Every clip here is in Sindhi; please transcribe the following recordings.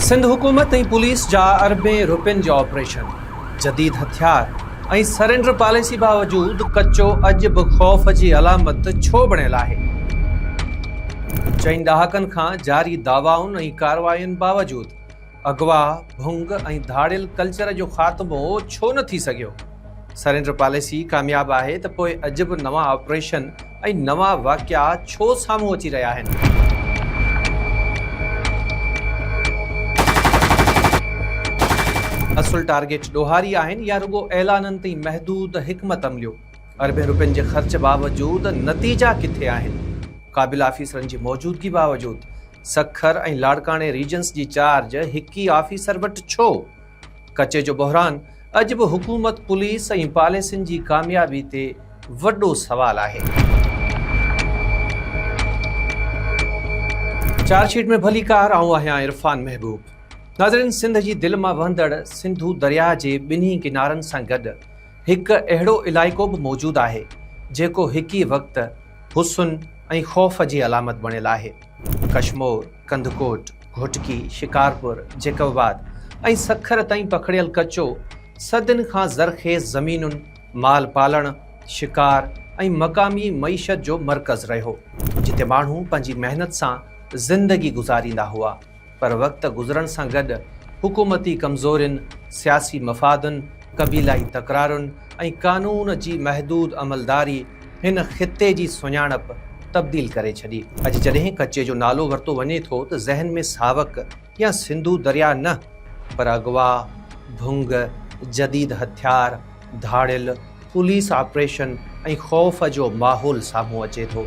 سنڌ حڪومت ۽ پوليس جا اربين روپين جا آپريشن جديد هٿيار ۽ سرينڊر پاليسي باوجود ڪچو اڄ به خوف جي علامت ڇو بڻيل آهي؟ چئن ڏهاڪن کان جاري دعوائن ۽ ڪاررواين باوجود اغوا، ڀنگ ۽ ڌاڙيل ڪلچر جو خاتمو ڇو نه ٿي سگهيو؟ سرينڊر پاليسي ڪامياب آهي ته پوء عجب نوان آپريشن ۽ نوان واقعا ڇو سامهون اچي رهيا آهن؟ اصل ٽارگيٽ ڏوهاري آهن يا رڳو اعلانن تي محدود حڪمت عمليون؟ اربين رپين جي خرچ باوجود نتيجا ڪٿي آهن؟ قابل آفيسرن جي موجودگي باوجود سکر ۽ لاڙڪاڻي ريجنس جي چارج هڪ ئي آفيسر وٽ ڇو؟ ڪچي جو بحران اڄ به حڪومت، پوليس ۽ پاليسين جي ڪاميابي تي وڏو سوال آهي. چارج شيٽ ۾ ڀليڪار آئون آهيان عرفان محبوب. ناظرين سنڌ جي دل مان وهندڙ سنڌو درياهه جي ٻنهي ڪنارن سان گڏ هڪ اهڙو علائقو به موجود آهي جيڪو هڪ ئي وقت حسن ۽ خوف جي علامت بڻيل آهي. ڪشمور، ڪنڌڪوٽ، گهوٽڪي، شڪارپور، جيڪب آباد ۽ سکر تائين پکڙيل ڪچو صدين کان زرخيز زمينن، مال پالڻ، شڪار ۽ مقامي معيشت جو مرڪز رهيو، جتي ماڻهو پنهنجي محنت سان زندگي گذاريندا هئا. پر وقت گذرڻ سان گڏ حڪومتي ڪمزورين، سياسي مفادن، قبيلائي تڪرارن ۽ قانون جي محدود عملداري هن خطي جي سڃاڻپ تبديل ڪري ڇڏي. اڄ جڏهن ڪچي جو نالو ورتو وڃي ٿو ته ذهن ۾ ساوڪ يا سنڌو درياء نه پر اغوا، ڀنگ، جديد هٿيار، ڌاڙيل، پوليس آپريشن ۽ خوف جو ماحول سامهون اچي ٿو.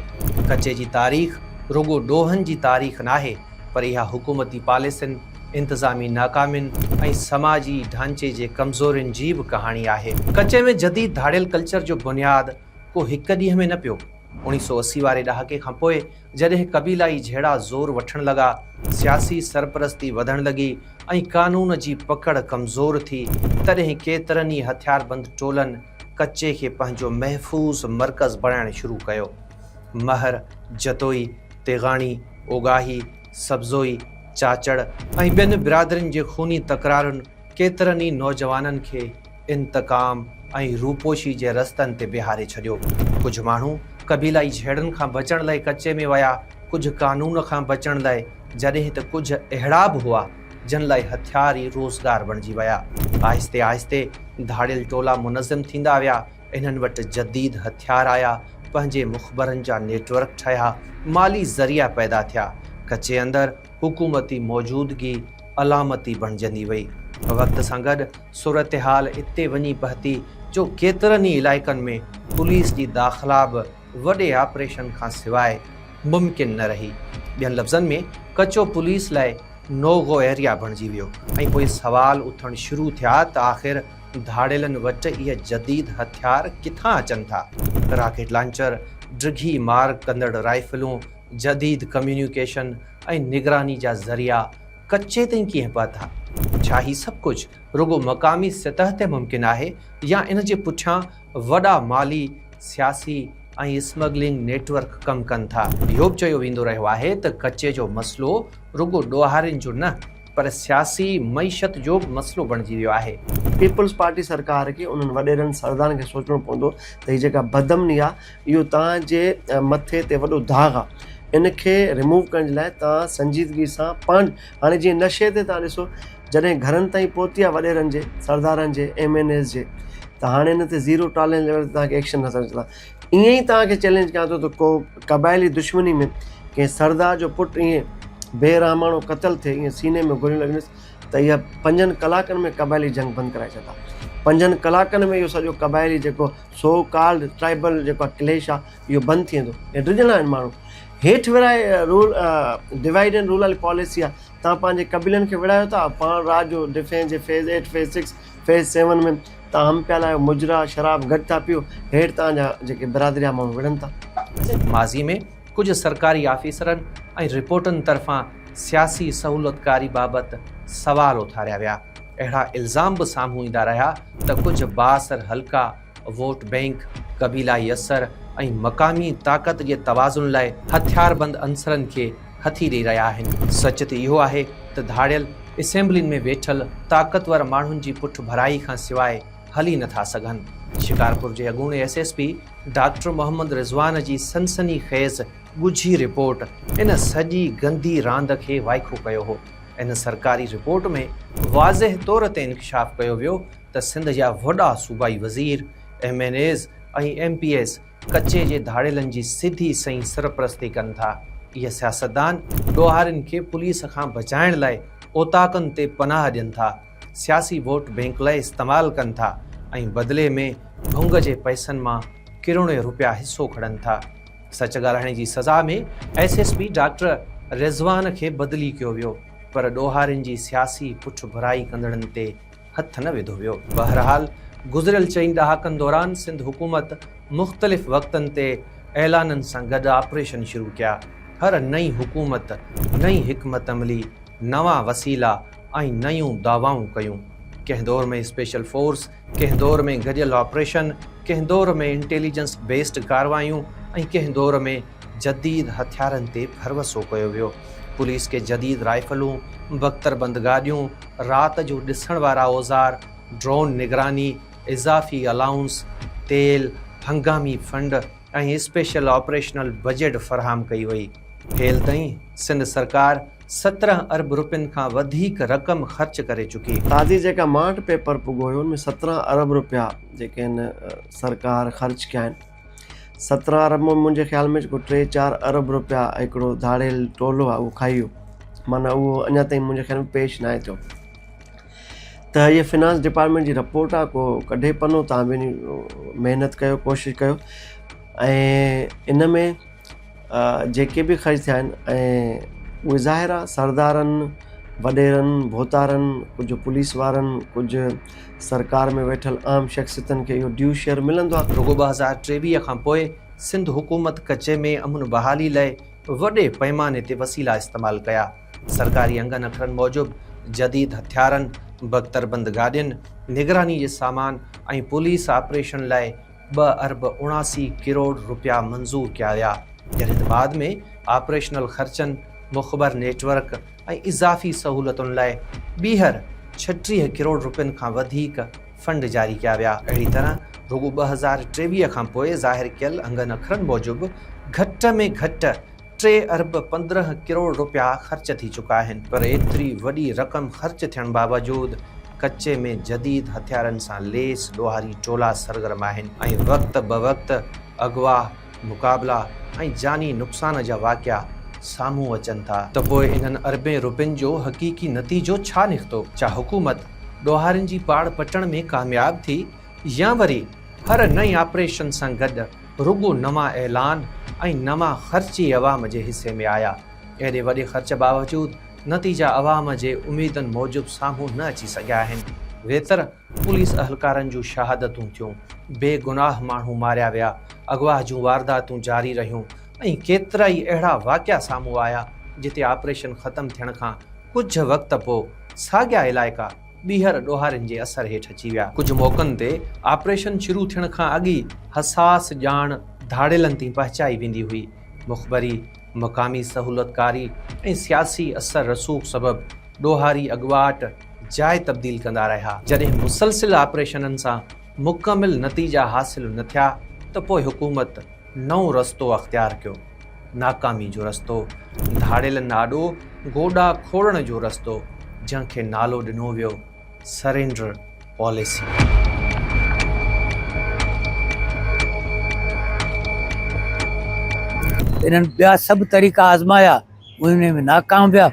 ڪچي جي تاريخ رڳو ڏوهن جي تاريخ ناهي پر اها حڪومتي پاليسين، انتظامي ناڪامين ۽ سماجي ڍانچي جي ڪمزورين جي به ڪهاڻي آهي. ڪچي ۾ جديد ڌاڙيل ڪلچر جو بنياد ڪو هڪ ڏينهن ۾ نه پيو. اوڻيهه سؤ اسي واري ڏهاڪي کان پوء جڏهن قبيلائي جهيڙا زور وٺڻ لڳا، سياسي سرپرستي وڌڻ لڳي ۽ قانون جي پڪڙ ڪمزور ٿي، تڏهن ڪيترن ئي هٿياربند ٽولن ڪچي کي پنهنجو محفوظ مرڪز بڻائڻ شروع ڪيو. مهر، جتوئي، تيغاڻي، اوڳاهي، سبزوئي، چاچڙ ۽ ٻين برادرين جي خوني تڪرارن ڪيترن ئي نوجوانن کي انتقام ۽ روپوشي جي رستن تي بيهاري ڇڏيو. ڪجهه ماڻهو قبيلائي جهيڙن کان بچڻ لئه ڪچي ۾ ويا، ڪجهه قانون کان بچڻ لئه، جڏهن ته ڪجهه اهڙا به هئا، جن لئه هٿيار ئي روزگار بڻجي ويا. آهستي آهستي ڌاڙيل ٽولا منظم ٿيندا ويا، انهن وٽ جديد هٿيار آيا، پنهنجي مخبرن جا نيٽ ورڪ ٺهيا، مالي ذريعا پيدا ٿيا، ڪچي اندر حڪومتي موجودگي علامتي بڻجندي وئي. وقت سان گڏ صورتحال اتي وڃي پهتي جو ڪيترن ئي علائقن ۾ پوليس جي داخلا به وڏي آپريشن کان سواء ممڪن نه رهي. ٻين لفظن ۾ ڪچو پوليس لاء نو گو ايريا بڻجي ويو ۽ پوء سوال اٿڻ شروع ٿيا ته آخر ڌاڙيلن وٽ اهي جديد هٿيار ڪٿان اچن ٿا؟ راڪيٽ لانچر، ڊگهي مار ڪندڙ رائفلون، جديد ڪميونيڪيشن ۽ نگراني جا ذريعا، ڪچي تائين ڪيئن پهتا؟ ڇا هي سڀ ڪجهه رڳو مقامي سطح تي ممڪن آهي يا ان جي پٺيان وڏا مالي، سياسي ۽ اسمگلنگ نيٽ ورڪ ڪم ڪن ٿا؟ اهو به چيو ويندو رهيو آهي ته ڪچي جو مسئلو رڳو ڏوهارين جو نه پر سياسي معيشت جو به مسئلو بڻجي ويو آهي. پيپلز پارٽي سرڪار کي انهن وڏيرن سردارن کي سوچڻو پوندو ته هي جيڪا بدامني آهي اهو توهان جي مٿي تي وڏو داغ آ ان کي ريموو ڪرڻ جي لاء توهان سنجيدگي سان پاڻ هاڻي جيئن نشي تي توهان ڏسو جڏهن گهرن تائين پهتي آ وڏيرن جي سردارن جي ايم اين ايز جي ته هاڻي ان تي زيرو ٽالرينس ليول تي توهان کي ايڪشن نه سمجهه ڪندا ائين ئي توهان کي چئلينج ڪيان ٿو ته ڪو قبائلي دشمني ۾ ڪنهن سردار جو پٽ ائين بي رحماڻو قتل ٿئي ائين سيني ۾ گوليون لڳنس ته اها پنجن ڪلاڪن ۾ قبائلي جنگ بند ڪرائي ڇڏيندا پنجن ڪلاڪن ۾ اهو سڄو قبائلي جيڪو سو ڪالڊ ٽرائبل جيڪو آهي ڪليش آهي اهو بند ٿي ويندو ۽ ڊڄندا آهن ماڻهو هيٺ ورهائي رول ڊوائيڊ اينڊ رول واري پاليسي آهي تان پنهنجي قبيلن کي وڙهايو ٿا پاڻ رات جو ڊفينس جي phase eight phase six phase seven ۾ تان هم پيالا آهيو مجرا شراب گڏ ٿا پيو هيٺ تان جا جيڪي برادري جا ماڻهو وڙهن ٿا ماضي ۾ ڪجهه سرڪاري آفيسرن ۽ رپورٽن طرفان سياسي سهولتڪاري بابت سوال اٿاريا ويا. اهڙا الزام به سامهون ايندا رهيا ته ڪجهه بااثر حلقا، ووٽ بئنڪ، قبيلائي اثر ۽ مقامي طاقت جي توازن لاء هٿياربند عنصرن کي هٿي ڏئي رهيا آهن. سچ ته اهو آهي ته ڌاڙيل اسيمبلين ۾ ويٺل طاقتور ماڻهن جي پٺڀرائي کان سواء هلي نه ٿا سگهن. شڪارپور جي اڳوڻي S S P doctor Muhammad Rizwan جي سنسني خيز ڳجهي رپورٽ ان سڄي گندي راند کي وائکو ڪيو هو. ان سرڪاري رپورٽ ۾ واضح طور تي انڪشاف ڪيو ويو ته سنڌ جا وڏا صوبائي وزير، M N As ۽ M P As ڪچي جي ڌاڙيلن جي سڌي سئين سرپرستي ڪن ٿا. اهي سياستدان ڏوهارين کي پوليس کان بچائڻ لاء اوطاقن تي پناهه ڏين ٿا، سياسي ووٽ بينڪ لاء استعمال ڪن ٿا ۽ بدلي ۾ ڀنگ جي پئسن مان ڪروڙين رپيا حصو کڙن ٿا. سچ ڳالهائڻ جي سزا ۾ S S P doctor Rizwan کي بدلي ڪيو ويو پر ڏوهارين جي سياسي پٺڀرائي ڪندڙن تي هٿ نه وڌو ويو. بهرحال گذريل چئن ڏهاڪن دوران سنڌ حڪومت مختلف وقتن تي اعلانن سان گڏ آپريشن شروع ڪيا. هر نئين حڪومت نئين حڪمت عملي، نوان وسيلا ۽ نيون دعوائون ڪيون. ڪنهن دور ۾ اسپيشل فورس ڪنهن دور ۾ گڏيل آپريشن، ڪنهن دور ۾ انٽيليجنس بيسڊ ڪارروايون ۽ ڪنهن دور ۾ جديد هٿيارن تي ڀروسو ڪيو ويو. پوليس کي جديد رائفلون، بڪتربند گاڏيون، رات جو ڏسڻ وارا اوزار، ڊرون نگراني، اضافي الائونس، تيل، هنگامي فنڊ ۽ اسپيشل آپريشنل بجيٽ فراهم ڪئي وئي. هيل تائين سنڌ سرڪار سترهن ارب رپين کان وڌيڪ رقم خرچ ڪري چڪي. تازي جيڪا ماٺ پيپر پڳو هيو ان ۾ سترهن ارب رپيا جيڪي هن سرڪار خرچ ڪيا آهن. سترهن ارب مان منهنجي خيال ۾ جيڪو ٽي چار ارب رپيا هڪڙو ڌاڙيل ٽولو آهي اهو کائي ويو. معنيٰ اهو اڃا تائين منهنجي خيال ۾ پيش ناهي ٿيو. ته هيء فنانس ڊپارٽمينٽ جي رپورٽ آهي ڪو ڪڍي پنو تان به محنت ڪيو ڪوشش ڪيو ۽ ان ۾ جيڪي به خرچ ٿيا آهن ۽ اهي ظاهر آهي سردارن وڏيرن ڀوتارن ڪجهه پوليس وارن ڪجهه سرڪار ۾ ويٺل عام شخصيتن کي اهو ڊيو شيئر ملندو آهي. رڳو ٻه هزار ٽيويهه کان پوء سنڌ حڪومت ڪچي ۾ امن بحالي لئه وڏي پئماني تي وسيلا استعمال ڪيا. سرڪاري انگن اکرن موجب جديد هٿيارن، بڪتربند گاڏين، نگراني جي سامان ۽ پوليس آپريشن لئه ٻه ارب اڻاسي ڪروڙ رپيا منظور ڪيا ويا جڏهن ته بعد ۾ آپريشنل خرچن، مخبر نيٽ ورڪ ۽ اضافي سهولتن لاء ٻيهر ڇٽيهه ڪروڙ رپين کان وڌيڪ فنڊ جاري ڪيا ويا. اهڙي طرح رڳو ٻه هزار ٽيويهه کان پوء ظاهر ڪيل انگن اکرن موجب گهٽ ۾ گهٽ ٽي ارب پندرهن ڪروڙ رپيا خرچ ٿي چڪا آهن پر ايتري وڏي رقم خرچ ٿيڻ باوجود ڪچي ۾ جديد هٿيارن سان ليس ڏوهاري ٽولا سرگرم آهن ۽ وقت بوقت اغوا، مقابلا ۽ جاني نقصان جا واقعا سامهون اچن ٿا. ته پوء انهن اربين رپين جو حقيقي نتيجو ڇا نڪتو؟ ڇا حڪومت ڏوهارين جي پاڙ پٽڻ ۾ ڪامياب ٿي يا وري هر نئين آپريشن سان گڏ رڳو نوان اعلان ۽ نوان خرچ ئي عوام جي حصي ۾ آيا. ايڏي وڏي خرچ باوجود نتيجا عوام جي اميدن موجب سامهون نه اچي سگهيا آهن. ويتر پوليس اهلڪارن جون شهادتون ٿيون، بي گناهه ماڻهو ماريا ويا، اغوا جون وارداتون جاري رهيون ۽ ڪيترائي اهڙا واقعا سامهون آيا جتي آپريشن ختم ٿيڻ کان ڪجهه وقت پوء ساڳيا علائقا ٻيهر ڏوهارين جي اثر هيٺ اچي ويا. ڪجهه موقعن تي آپريشن شروع ٿيڻ کان اڳ ئي حساس ڄاڻ ڌاڙيلن تائين پهچائي ويندي هئي. مخبري، مقامي سهولتڪاري ۽ سياسي اثر رسوخ سبب ڏوهاري اڳواٽ جاء تبديل ڪندا رهيا. جڏهن مسلسل آپريشنن سان مڪمل نتيجا حاصل نه ٿيا ته پوء حڪومت نئون رستو اختيار ڪيو. ناڪامي جو رستو، ڌاڙيل ناڏو گوڏا کوڙڻ جو رستو، جنهن کي نالو ڏنو ويو سرينڊر پاليسي. انهن ٻيا سڀ طريقا آزمايا، انهن ۾ ناڪام ويا،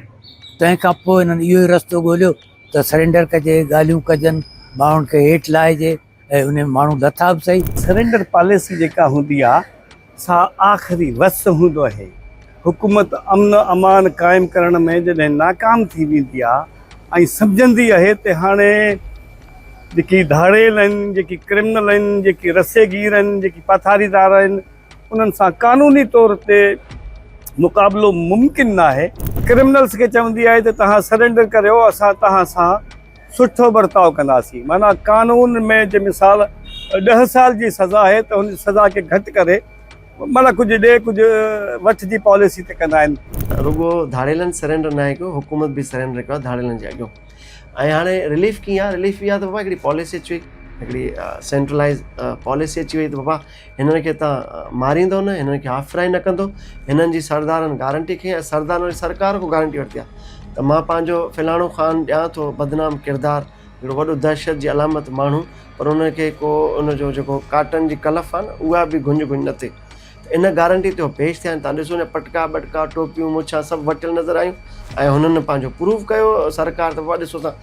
تنهن کان پوء انهن اهو ئي رستو ڳوليو ته سرينڊر ڪجي، ڳالهيون ڪجن، ماڻهن کي هيٺ لاهجي. ۽ انهن ماڻهن لٿا به سهي. سرينڊر پاليسي جيڪا هوندي آ سا آخري وس هوندو اهي. حڪومت امن امان قائم ڪرڻ ۾ جڏهن ناڪام ٿي ويندي آ ۽ سمجهندي اهي ته هاڻي جيڪي ڌاڙيل اهن جيڪي ڪرمنل اهن جيڪي رسي گير اهن جيڪي پاٿاري دار اهن انهن سان قانوني طور تي مقابلو ممڪن ناهي. ڪرمنلس کي چوندي آهي ته توهان سرينڊر ڪريو اسان توهان سان سٺو برتاء ڪنداسين معنيٰ قانون ۾ جي مثال ڏهه سال جي سزا آهي ته ان سزا کي گهٽ ڪري معنيٰ ڪجهه ڏي ڪجهه وٺ جي پاليسي تي ڪندا آهن. رڳو ڌاڙيلن سرينڊر ناهي ڪيو حڪومت به سرينڊر ڪيو آهي ڌاڙيلن جي اڳيون ۽ هاڻي رليف ڪيئن آهي رليف اهو آهي ته بابا هڪڙي پاليسي اچي وئي هڪڙي سينٽرلائز پاليسي اچي وئي ته بابا هنن کي تان ماريندو نه، هنن کي آفرائي نه ڪندو، هنن جي سردارن گارنٽي کنئي ۽ سردارن واري سرڪار کان گارنٽي ورتي آ ته مان پنهنجو فلاڻو خان ڏيان ٿو بدنام ڪردار هڪڙو وڏو دهشت جي علامت ماڻهو پر ان کي ڪو ان جو جيڪو ڪاٽن جي ڪلف آ نه اها به گهنج گهنج نه ٿئي ته ان گارنٽي تي هو پيش ٿيا آهن تان ڏسو نه پٽڪا ٻٽڪا ٽوپيون مڇان سڀ وٽيل نظر آيون ۽ هنن پنهنجو پروف ڪيو سرڪار ته وا ڏسو تان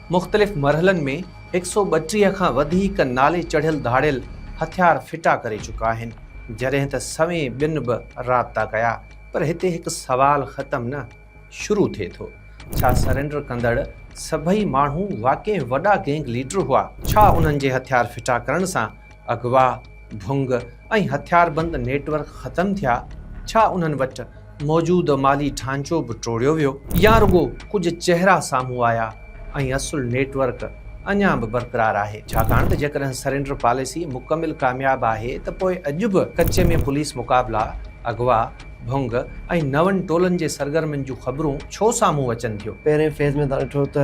مختلف مرحلن ۾ هڪ سؤ ٻٽيهه کان وڌيڪ نالي چڙهيل ڌاڙيل هٿيار ڦٽا ڪري چڪا آهن، جڏهن ته سوين ٻين به رابطا ڪيا، پر هتي هڪ سوال ختم نه، شروع ٿئي ٿو، ڇا سرينڊر ڪندڙ سڀئي ماڻهو واقعي وڏا گينگ ليڊر هئا؟ ڇا انهن جي هٿيار ڦٽا ڪرڻ سان اغوا، ڀنگ ۽ هٿياربند نيٽ ورڪ ختم ٿيا، ڇا انهن وٽ موجود مالي ڍانچو به ٽوڙيو ويو؟ يا رڳو ڪجهه چهرا سامهون آيا ۽ اصل نيٽ ورڪ اڃا به برقرار آهي؟ ڇاڪاڻ ته جيڪڏهن سرينڊر پاليسي مڪمل ڪامياب آهي ته پوء اڄ به ڪچي ۾ پوليس مقابلا، اغوا، ڀنگ ۽ نون ٽولن جي سرگرمين جون خبرون ڇو سامهون اچن ٿيون؟ پهرين فيز ۾ توهان ڏٺو ته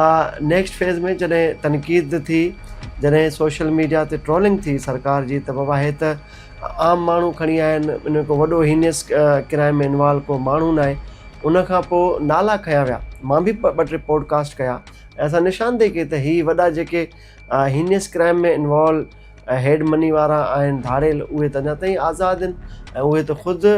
آء نيڪسٽ فيز ۾ جڏهن تنقيد ٿي جڏهن سوشل ميڊيا تي ٽرولنگ ٿي سرڪار جي ته بابا هي ته عام ماڻهو کڻي آيا آهن ان ۾ ڪو وڏو هينيس ڪرائم ۾ انوالو ڪو ماڻهو ناهي ان کان پوء نالا کنيا ويا مان به ٻه ٽي پوڊڪاسٽ ڪيا ۽ اسان نشاندهي ڪئي ته هي وڏا جيڪي heinous crime ۾ involve head money وارا آهن ڌاڙيل اهي ته اڃا تائين آزاد آهن ۽ اهي ته خود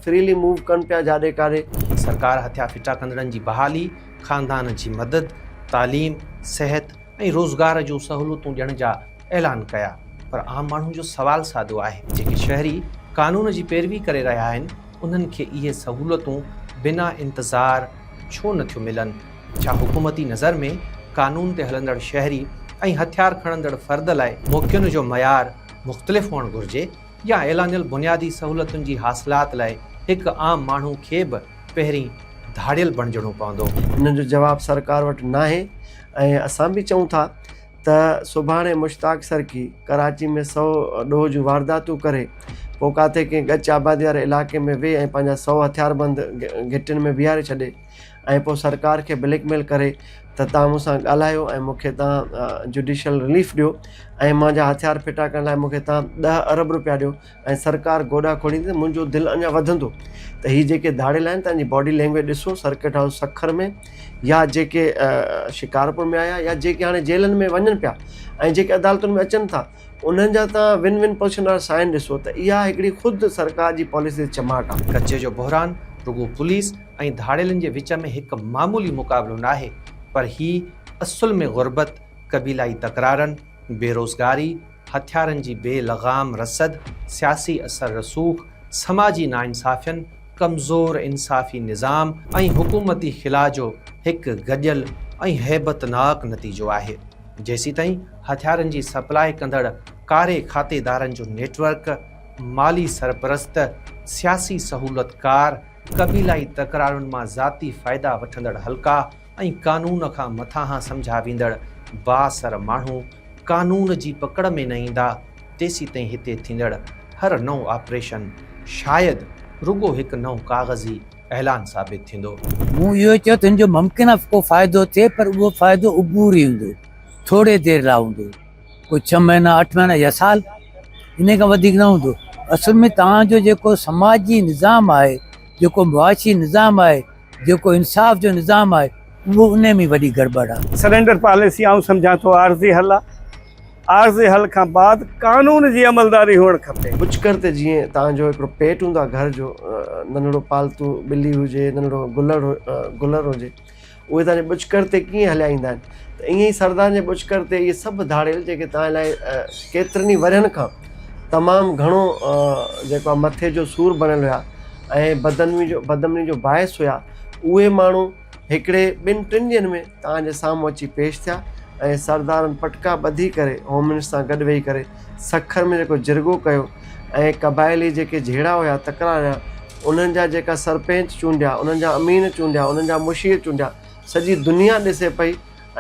فريلي موو ڪن پيا جاڏي ڪاڏي. سرڪار هٿيا ڦٽا ڪندڙن جي بحالي. خاندان جي مدد، تعليم، صحت ۽ روزگار جون سهولتون ڏيڻ جا اعلان ڪيا پر عام ماڻهن جو سوال سادو آهي ته جيڪي شهري قانون جي پيروي ڪري رهيا آهن انهن کي اهي سهولتون بنا انتظار ڇو نه ٿيون ملن؟ ڇا حڪومتي نظر ۾ قانون تي هلندڙ شهري ۽ هٿيار کڻندڙ فرد لاء موقعن جو معيار مختلف هئڻ گهرجي يا اعلانيل بنيادي سهولتن جي حاصلات لاء هڪ عام ماڻهو کي به پهرين ڌاڙيل بڻجڻو پوندو. انهن جو جواب سرڪار وٽ ناهي ۽ اسان به چئون ٿا ته سڀاڻي مشتاق سرڪي ڪراچي ۾ سئو ڏوهه جون وارداتون ڪري پوء ڪاٿي ڪنهن ڳچ آبادي واري علائقي ۾ ويهي ۽ پنهنجا سئو هٿياربند گهٽين ۾ بيهاري ڇڏي ۽ پوء سرڪار کي بليڪ ميل ڪري ته توهان مون سان ڳالهايو ۽ مون کي توهان جڊيشل رليف ڏيو ۽ مانجا هٿيار ڦٽا ڪرڻ لاء مون کي توهان ڏهه ارب روپيا ڏيو ۽ سرڪار گوڏا کوڙيندي ته منهنجو دل اڃا وڌندو ته هي جيڪي ڌاڙيل آهن تنهن جي باڊي لينگويج ڏسو سرڪٽ هائوس سکر ۾ يا جيڪي شڪارپور ۾ آيا يا جيڪي هاڻي جيلن ۾ وڃن پيا ۽ جيڪي عدالتن ۾ اچن ٿا انهن جا تان ون ون پوزيشن وارا سائن ڏسو ته اها هڪڙي خود سرڪار جي پاليسي تي چماٽ آهي. ڪچي جو بحران رڳو پوليس ۽ ڌاڙيلن جي وچ ۾ هڪ معمولي مقابلو ناهي پر هي اصل ۾ غربت، قبيلائي تڪرارن، بيروزگاري، هٿيارن جي بي لغام رسد، سياسي اثر رسوخ، سماجي ناانصافين، ڪمزور انصافي نظام ۽ حڪومتي خلا جو هڪ گڏيل ۽ هيبتناڪ نتيجو آهي. جيسيتائين هٿيارن جي سپلاء ڪندڙ ڪاري کاتيدارن جو نيٽ ورڪ، مالي سرپرست، سياسي سهولتڪار، قبيلائي تڪرارن مان ذاتي فائدا وٺندڙ حلقا، ۽ قانون کان مٿانهان سمجهيا ويندڙ بااثر ماڻهو قانون جي پڪڙ ۾ نه ايندا تيسيتائين هتي ٿيندڙ هر نئون آپريشن شايد رڳو هڪ نئون ڪاغذي اعلان ثابت ٿيندو. مون اهو چيو ته ان جو ممڪن آهي ڪو فائدو ٿئي پر اهو فائدو عبوري هوندو، ٿوري دير لاء هوندو، ڪو ڇهه مهينا، اٺ مهينا يا سال، انهي کان وڌيڪ نه هوندو. اصل ۾ توهان جو جيڪو سماجي نظام آهي، جيڪو معاشي نظام آهي، جيڪو انصاف جو نظام آهي اهو انهي ۾ وڏي گڙٻڙ آهي. سرينڊر پاليسي آئون سمجهان ٿو عارضي حل آهي. عارضي حل کان بعد قانون جي عملداري هئڻ کپي. پچڪر تي جيئن توهان جو هڪڙو پيٽ هوندو آهي گهر جو ننڍڙو پالتو ٻلي هجي ننڍڙو گلڙ گلر هجي اهي توهان جي پچڪر تي ڪيئن هليا ايندا آهن ته ايئن ئي سردارن جي پچڪر تي اهي سڀ ڌاڙيل جيڪي توهان لاء ڪيترن ئي ورهين کان تمام گهڻو جيڪو آهي مٿي جو سور بڻيل هيا ۽ بدامني جو بدامني جو باعث هيا اهي ماڻهو هڪڙي ٻن ٽن ڏينهن ۾ توهان جي سامهون اچي پيش ٿيا ۽ سردارن پٽڪا ٻڌي ڪري هوم منسٽر سان گڏ ويهي ڪري سکر ۾ جيڪو جرڳو ڪيو ۽ قبائلي جيڪي جهيڙا هيا تڪرار هيا انهن جا جيڪا سرپنچ چونڊيا انهن جا امين چونڊيا انهن جا مشير چونڊيا سڄي دنيا ڏسي پئي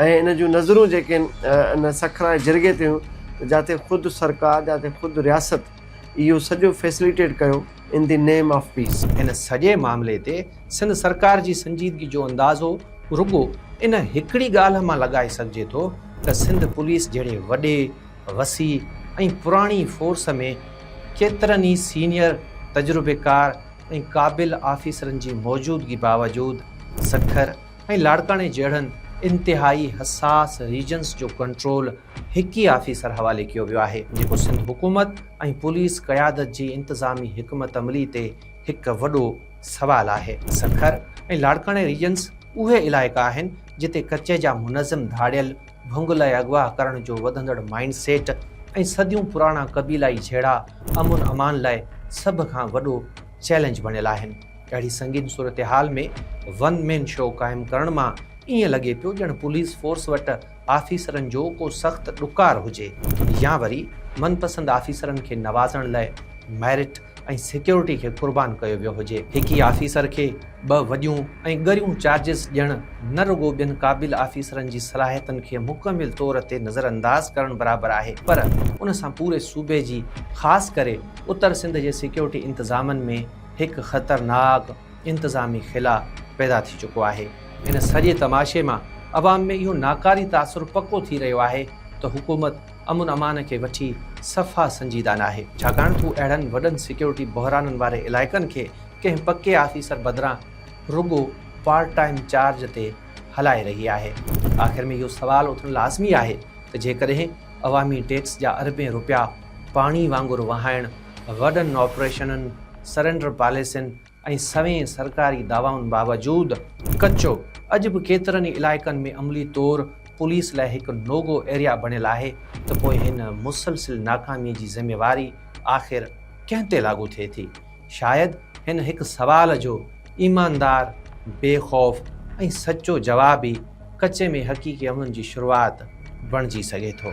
۽ ان جون نظرون جيڪي ان سکر واري جرڳي تي هيون جاتي خود سرڪار جاتي خود رياست اهو سڄو فيسليٽيٽ ڪيو in the name of peace. هن سڄي معاملي تي سنڌ سرڪار جي سنجيدگي جو اندازو رڳو ان هڪڙي ڳالهه مان لڳائي سگهجي ٿو ته سنڌ پوليس جهڙي وڏي، وسيع ۽ پراڻي فورس ۾ ڪيترن ئي سينيئر، تجربيڪار ۽ قابل آفيسرن جي موجودگي باوجود سکر ۽ لاڙڪاڻي جهڙن انتهائي حساس ريجنس جو ڪنٽرول هڪ ئي آفيسر حوالي ڪيو ويو آهي جيڪو سنڌ حڪومت ۽ پوليس قيادت جي انتظامي حڪمت عملي تي هڪ وڏو سوال آهي. سکر ۽ لاڙڪاڻي ريجنس اهي علائقا آهن جتي ڪچي جا منظم ڌاڙيل ڀنگ لاء اغوا ڪرڻ جو وڌندڙ مائينڊ سيٽ ۽ صديون پراڻا قبيلائي جهيڙا امن امان لاء سڀ کان وڏو چئلينج بڻيل آهن اهڙي سنگين صورتحال ۾ ون مين شو قائم ڪرڻ مان ائين لڳي پيو ڄڻ پوليس فورس وٽ آفيسرن جو ڪو سخت ڏڪار هجي يا وري من پسند آفيسرن کي نوازڻ لاء ميرٽ ۽ سيڪيورٽي کي قربان ڪيو ويو هجي. هڪ ئي آفيسر کي ٻه وڏيون ۽ ڳريون چارجز ڏيڻ نه رڳو ٻين قابل آفيسرن جي صلاحيتن کي مڪمل طور تي نظرانداز ڪرڻ برابر آهي پر ان سان پوري صوبي جي خاص ڪري اتر سنڌ جي سيڪيورٽي انتظامن ۾ هڪ خطرناڪ انتظامي خلا پيدا ٿي چڪو آهي. ان سڄي تماشي مان عوام ۾ اهو ناڪاري تاثر پڪو ٿي رهيو آهي ته حڪومت امن امان کي وٺي صفا سنجيده ناهي. ڇاڪاڻ ته هو اهڙن وڏن سيڪيورٽي بحرانن واري علائقن کي ڪنهن پڪي آفيسر بدران رڳو پارٽ ٽائيم چارج تي هلائي رهي آهي. آخر ۾ اهو سوال اٿڻ لازمي آهي ته جيڪڏهن عوامي ٽيڪس جا اربين روپيا پاڻي وانگر وهائڻ وڏن آپريشنن، سرينڊر پاليسين ۽ سوين سرڪاري دعوائن باوجود ڪچو اڄ به ڪيترن ئي علائقن ۾ عملي طور پوليس لاء هڪ نو گو ايريا بڻيل آهي ته پوء هن مسلسل ناڪامي جي ذميواري آخر ڪنهن تي لاڳو ٿئي ٿي؟ شايد هن هڪ سوال جو ايماندار، بي خوف ۽ سچو جواب ئي ڪچي ۾ حقيقي امن جي شروعات بڻجي سگهي ٿو.